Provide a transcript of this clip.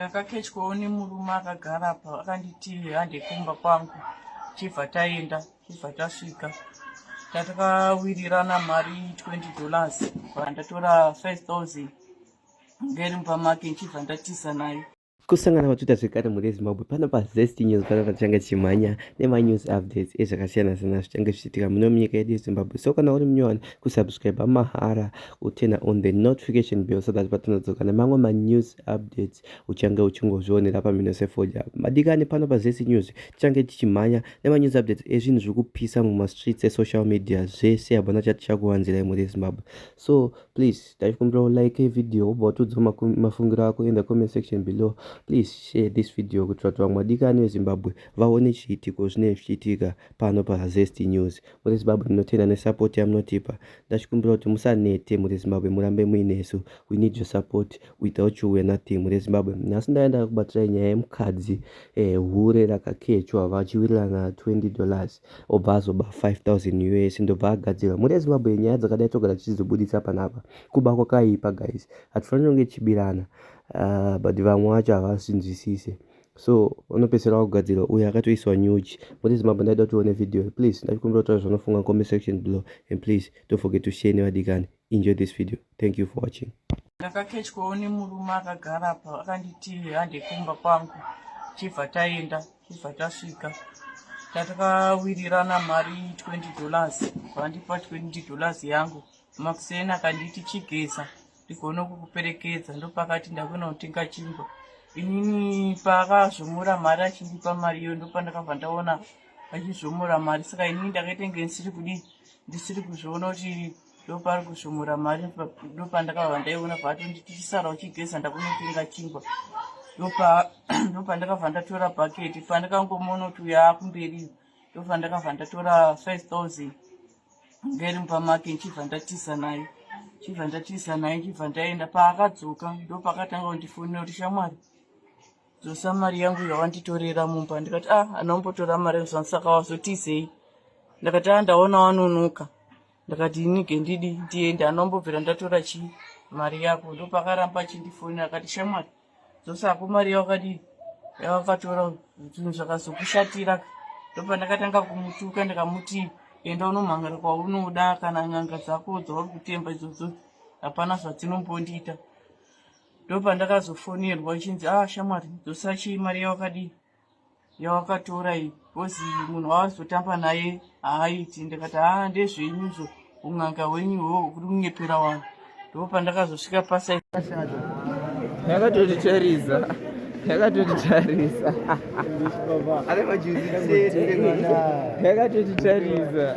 Ndakakechwawo nemurume akagara apa akanditi hande kumba kwangu chibva taenda chibva tasvika tatakawirirana mari 20 dollars vandatora 5000 ngeri mumba make ndichibva ndatiza naye kusangana kwatwitter zvekare mhuri yezimbabwe pano pazest news pano patichange tichimhanya nemanews updates ezvakasiyana-siyana zvichange zvichiitika muno munyika yedu yezimbabwe so kana uri munyowani kusubscribe mahara kutena on the notification bill so that patinodzoka nemamwe manews updates uchange uchingozvionera pamhino sefoja madikani pano pazesi news tichange tichimhanya nemanews updates ezvinhu zviri kupisa mumastreets esocial media zvese hapana chati chakuwanzirai muri zimbabwe so please taikumbira ulike video ubva utiudza mafungiro ako in the comment section below please share this video kuitira kuti vamwe madikani vezimbabwe vaone chiitiko zvinenge zvichiitika pano pazesti news Muri Zimbabwe tinotenda nesupport yamunotipa. Ndachikumbira kuti musanete muri Zimbabwe murambe muinesu. We need your support. Without you we are nothing muri Zimbabwe. Nhasi ndaiya ndakakubatsirai nyaya yemukadzi eh, hure rakakechwa vachiwirirana 20 dollars obva azoba 5000 us ndobva agadzirwa. Muri Zimbabwe nyaya dzakadai togara tichizobuditsa panapa. Kuba kwakaipa guys. Hatifanire kunge tichibirana. Uh, but vamwe vacho havasinzwisise. so unopedzisira wakugadzirwa uye akatoiswa nyuchi what is mambo ndaida kuti one video please ndachikumbira kutaura zvaunofunga comment section below and please don't forget to share nevadikani enjoy this video thank you for watching ndakakechwawo nemurume akagara apa akanditi hande kumba kwangu chibva taenda chibva tasvika tatakawirirana mari 20 dollars vandipa 20 dollars yangu makuseni akanditi chigeza ndigone kukuperekedza ndopakati ndakunotenga chingwa inini paakazvomora mari achindipa mari iyo ndopandakabva ndaona achizvomora mari saka inini ndakaita nge ndisiri kudi ndisiri kuzviona kuti ndopari kuzvomora mari ndopandakabva ndaiona paatonditi chisara uchigeza ndakunotenga chingwa ndopandakabva ndatora bhaketi pandakangomona kuti uyo akumberiyo ndobva ndakabva ndatora 5000 ngeri mumba make ndichibva ndatiza naye ndichibva ndatiza naye ndichibva ndaenda paakadzoka ndopakatanga kundifonera kuti shamwari dzosa mari yangu yawanditorera mumba ndikati ah anombotora mari yozvanisaka wazotizei ndakati ah ndaona wanonoka ndakati inige ndidi ndiende anombobvira ndatora chii mari yako ndopakaramba achindifonera akati shamwari dzosako mari yavakadii yavakatora zvinhu zvakazokushatira ndopandakatanga kumutuka ndikamuti enda unomhangara kwaunoda kana n'anga dzako dzauri kutemba idzodzo hapana zvadzinombondiita ndopandakazofonirwa ichinzi a ah, shamwari dzosachi mari yavakadii yawakatora iyi bcoz munhu wawazotamba naye haaiti ndikati haa ndezvenyizvo un'anga hwenyu hwo kuri kunyepera wanhu ndo pandakazosvika pasa yakatotitarisa yakatotitarisa yakatotitarisa